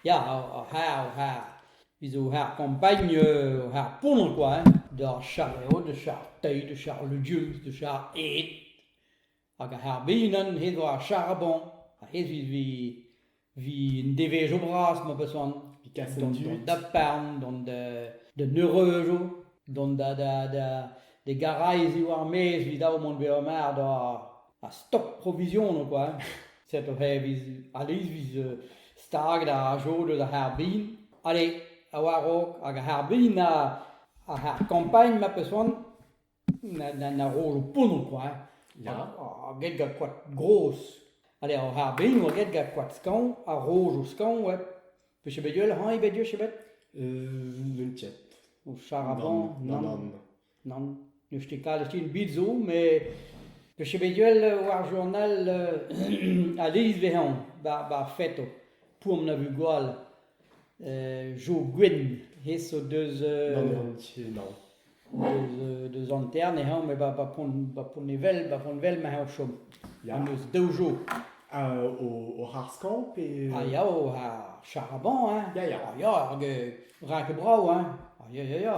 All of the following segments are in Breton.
Ya, ur c'harr, ur c'harr. Biz eo c'harr kampagn, ur c'harr pounner kwa, d'ar charr eo, da charr teil, da charr legumes, da charr ed. Hag ar c'harr bihan, hed war ar charr-boñ, ha hed vi un devezhioù bras, ma peus c'hoant. Vi kas d'an daparn, d'an d'an eureujoù, d'an da da da da garaezi war-maez, evit dav mont bezañ mar da ha stok provision ober. Set oc'h e viz a-leiz viz euh, stag da jod eus ar c'harbrin. Ale, a oa raok hag ar c'harbrin a ar ar kampagn ma peus c'hoant na na na ro lo ponon quoi. hein. Ya. A get gant koad gros. Ale, ar c'harbrin oa get gant koad skañv, ha roz o skañv, ouais. Peus bet bet hañ ebet, je sais pas. Euh, non tiens. Au charaban, Non, non. non. Nann, n'eus ket kalet ebet zo, met 'peus bet gwell war journal a-bezh vez anv bar feto, poan a vez gwall, Jo Gwenn, hez zo deus... Nann, nann, nann. Deus Antern e hañv, met ba Pont-Nevel, ba Pont-Nevel ma hañv chom. Ya. Am eus daou Jo. O harz-kañv pe... Ah ya, ar charaban, hein. Ya, ya. Ah ya, rak brav, hein. Ah ya, ya, ya.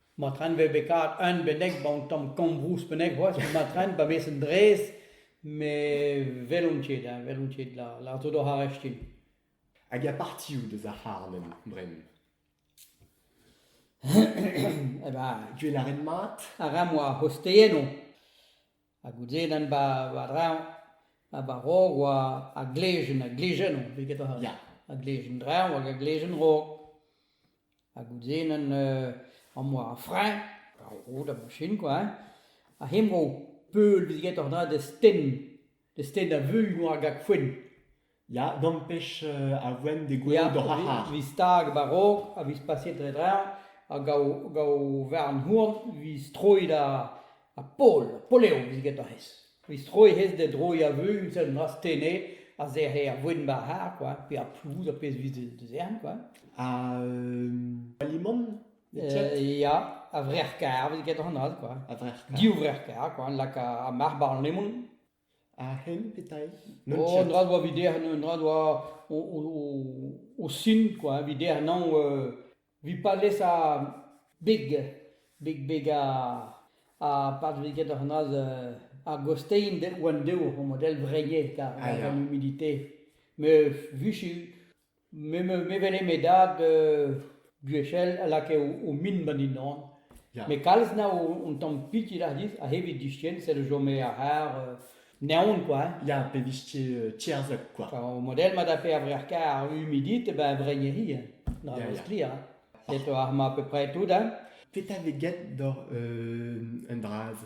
Ma tren 'vez bet kavet un bennak 'ba an tamm kambouz bennak c'hoazh evit ma tren pa vez un drez met 'welont ket hein, 'welont ket la la zo doc'h ar reftin. Hag a partioù deus ar c'harlenn bremañ? Eh ben, tu e lâret mat? Ar re 'moa c'hosteennoù. Ha goude ren ba ba dreñv ba ba raok oa a glejenn a glejenn on eget a ya a glejenn dreñv hag a glejenn raok. Ha goude nen am boa ar freñv ar road a bouchin kwa hein ha hemañ eo peul bezit aet oc'h dra d'ez tenn d'ez tenn da veuilh mont a gag foenn. Ya, dampech a voen degouezhout oc'h ar c'harr. Vit stag a-raok ha vit pasiet dre-dreñv hag gaou varn-houarn vit stroiñ da Pol, Polev vit get hec'h hez. Vit stroiñ hec'h hez da droiñ a-veu seul noazh tene a sec'he ar voen war ar c'harr kwa, pe ar plouz, ar pezh vit da zern kwa. Ha alimant Ya, a-vrec'h-karr vit get hon holl kwa. A-vrec'h-karr. Div vrec'h-karr kwa, laka ar marc'h barzh lemon. Ar c'hemm petaill ? Oh, un dra doa evit dec'h, un dra doa o sin kwa, evit dec'h nann, evit palez ar beg, beg beg ar patriged c'hoazh ar gostein oant dezho, o model vreñe, kar gant humidité. Met 'viche Me me me wele me dad euh gwechall a lakae o o min ba dindan. Ya. Met kalz na on on tamm pitilh a-rez a-hed e diskien sed a chome àr-c'har euh naon kwa hein. Ya, pe vije euh, tierzhet kwa. Enfin, au modèle ma da fait ar wer kar humidite, ben vreierie, hein. Na Ya, ya. stri, hein. Set ar ma à peu près tout, hein. Petra vez get doc'h euh un dra-se?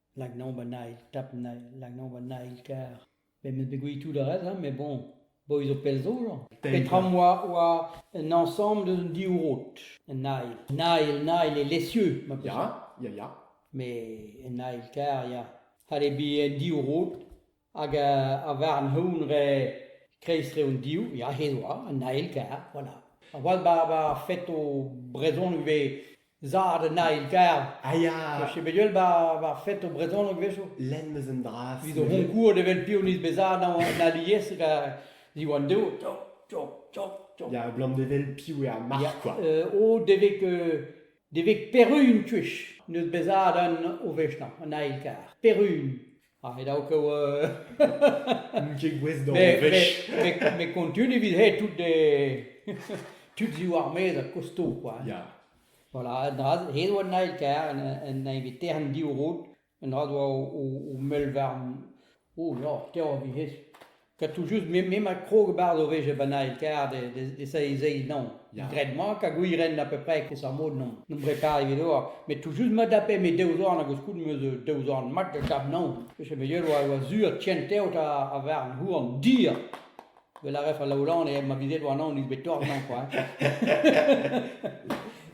Lak anaon 'ba Nail, tap Nail, lak anaon 'ba Nail kar. Met 'meus bet gwelet tout ar rest, mais bon, boy zo pell zo, genre. Petra 'm oa oa un añsamble eus an div rod. Un Nail. Nail, Nail e Lessieux, ma peus. Ya, ya, ya. Mais un Nail kar, ya. C'hall eo bet un div rod. Hag a varn-houarn re kreiz re hon div, ya he doa, an Nail kaer, voilà. A-walc'h bar fête ho brezhoneg ivez zad an Nail kaer. A ya! Zo ket bet ul bar fête ho brezhoneg a-wechoù? Lenn 'm eus un dra. Evit ho c'honkouret evel piv n'eus bet zad an alies hag Diwan Dev, tchok, tchok, tchok, tchok. Ya, blamdevel piv er marc'h kwa. O devek devek perun tuech, n'eus bet zad an o wech 'nañ, an Nail kaer. Perun. Ah, e da o kaout... N'oun ket gouest d'o Mais- vech. mais- mais- mais continue evit he tout de... tud ziv ar maez ha kosto, quoi. Ya. Voilà, un dra, he oa an eil kaer, un, un inviteren div roud, un dra doa o, o, o mell war... O, ya, te a vihez. Katoù-just, me, me ma krog barz o vefe bennak kar de, de, de seizei non. Ya. Graet mat hag wir ren apeupre kousar mod non. Non brepar evit oar. Met tout just ma dape me daou zorn hag koulm eus euh, daou zorn mat da dab non. Peche me yer oa, oa sur tient teot a, a var an houan dir. Wel a ref a laolan e ma bizet oa non, is bet tor non quoi.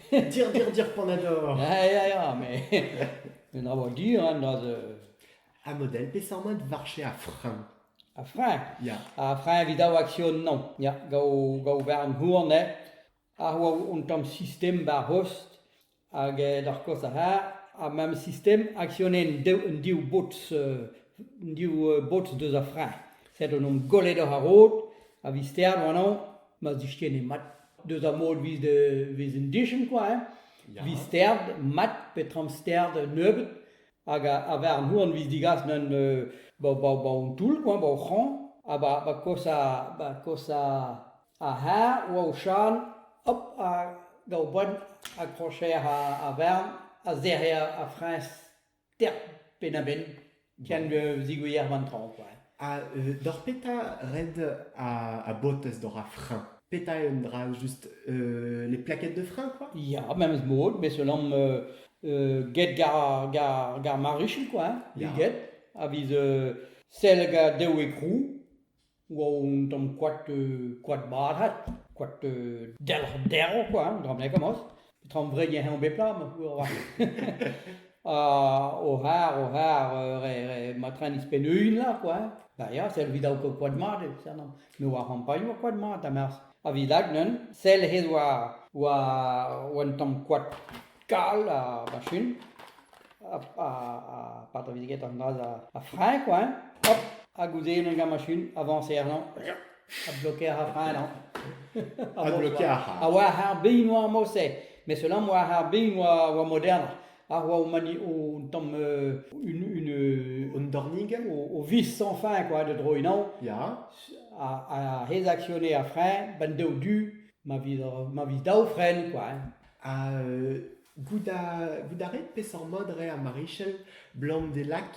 Dire, dire, dire, panador. Ja, ja, ja, mais... Un a oa dir, hein, dans... euh, Amodel, peseurt mat varche a freñv? A freñv? Ya. A freñv evit daou aksion non. Ya, gaou, gaou war an hourn eo. Ar oa un tamm sistem war rost hag eh d'ar kost ar c'harr. Ha memes sistem aksionenn daou, un div bots, euh, un div euh, bots deus ar freñv. Set on omp gollet oc'h ar rod, a vi ster bremañ, ma zistenne mat. Deus ar mod vez de, vez un dichen kwa, hein. Ya. Vi sterd mat, petra am sterd nebeut. Hag a-vezañ ar mouanvez digas n'en hon toull quoi, ba hor c'hraoñ, ha ba kosa ar c'harr oa o chan, hop, da oberenn ar krocher a vern a zerc'he ar friñs terp penn-ha-benn ken zigoueer an traoñ quoi. Ha euh, doc'h petra red a, a botez doc'h ar frein? Petra eo un dra just euh, les plaquettes de frein quoi? Ya, memes mod, bet selamp euh, euh, get gar, gar, gar marichel quoi, hein, Ya. get, a viz euh, sell ga dev e krou, oa on tamm koad, euh, koad barat, koad euh, delc'h derv quoi, hein, dramnek amos. Tamm vrediñ eo bep lam, moarvat. Ha horar, horar, euh, re, re, ma tren izpen un la, quoi. Da ya, sell vid au koad mat, e sernan. Me oa c'hampagnoù a koad mat, amerzh. A vilag neu'n, sell hed oa, oa, oa un tamm koad kal a machin. A, a, a pataviziget an dra a, a frein, quoi. Hop, ha goude en un gant machin, avañse er lan. Adbloquer ar prenañ. Adbloquer ar prenañ. A oa ar bin oa ar mos-se, mais selam oa ar bin oa oa modern. Ar oa mani un tamm euh, une une Un dornig o, o vis sans fin quoi de droinañ ya. a, a rédactionné a frein, ben daou du ma vis ma vis daou fren quoi. hein. Ha euh, Goût a rit peseurt mod eo ar marichel 'blam d'e lak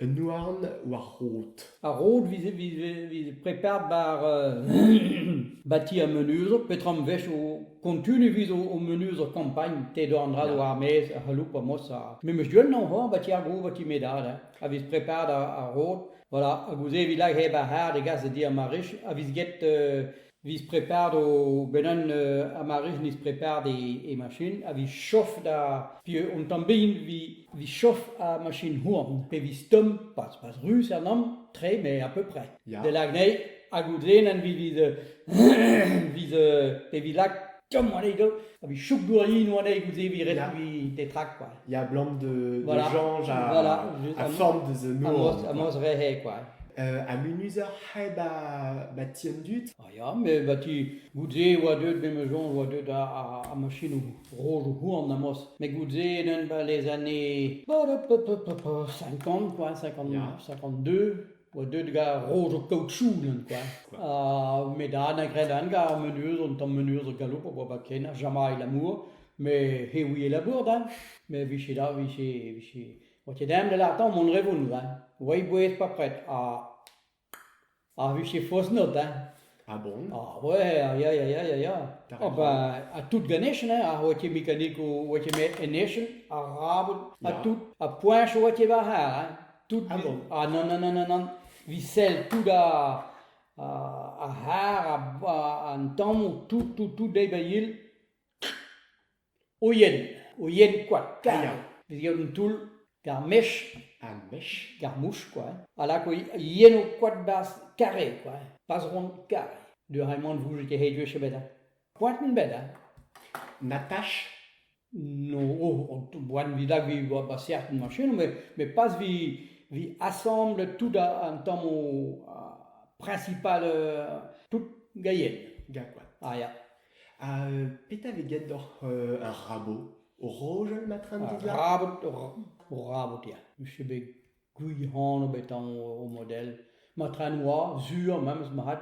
un houarn war rod? Ar rod vit preparet bar ti ar menuzo petra 'm vez o kontuniñ evit o menuzo kampagn te dor an draoù er-maez a c'halloup ar mos memes du ennañ homañ 'ba ti ar goût 'ba ti me dad a vez preparet ar rod voilà ha gouze evit lakaat hep ar c'hard e gas da di ar marich a vez get 'Vis prepart o benn un amarich nis prepart e machin a vis chof da pieu hon tamm bihan vis chof a machin houarn pe vis tomm pas pas ruz er namm tre mais à peu près. Ya. Delag anezhi ha goude nen vis vis pe vis lak tomm anezhi do a vis chouk gourine anezhi goude vis ret Ya. vis tetrañ kwa. il y a blanc de, voilà. de Georges à, voilà. à forme de The Nord. À Mosrehe, quoi. Euh, à Munuzer hai ba ba tiendut ah, ya me ba ti goude oa deut me mejon oa deut a a, a machinou rôle houan amos me goude enen ba les années 50 quoi 59 52 oa deuet gant roz o kaoutchounen kwa ha met an agredent gant ar meneuz un tamm meneuz ar galoup a oa ba ken ar Jamaï lamour met he ouie labour da met vije da vije vije oa ket dem da lartañ mont re vont da oa e bouez pa pred ha ha vije faos not da Ha bronn Ah ouais, ya, ya, ya, ya, ya. T'as raison. Ah bah, ha tout ganechen, hein, ar oa ket mekanikou, oa ket met enechen, arabot, ha Ya. tout, ha poinch oa ket war ar, hein. Tout, Ah bon? ah non, non, non, non, non, vi sell tout ar, ar ar har, ar- ar- an tammou, tout, tout, tout deiz ba il, O yen, o yen kwa kaer, vez gaout un toull gant mech, ar mech, gant mouch kwa, a lak o yen o koad 'barzh kare kwa, pas ront kare. Deus re-mañ ne vouge ket ret gwech ebet hein. Koaten 'bet hein. Natach, no oh boan 'vit lag 'vi ba serten machin met met pas 'vi 'vi asamble tout an tamm o principal tout gaillet, ya kwa, ah ya. Ha euh, petra vez graet doc'h euh, ar rabot? O rojal ma tram Ar dit là? rabot, o rabot ya. Use bet gwir-hano bet anv o model. Ma tren oa, sur, memes marc'had.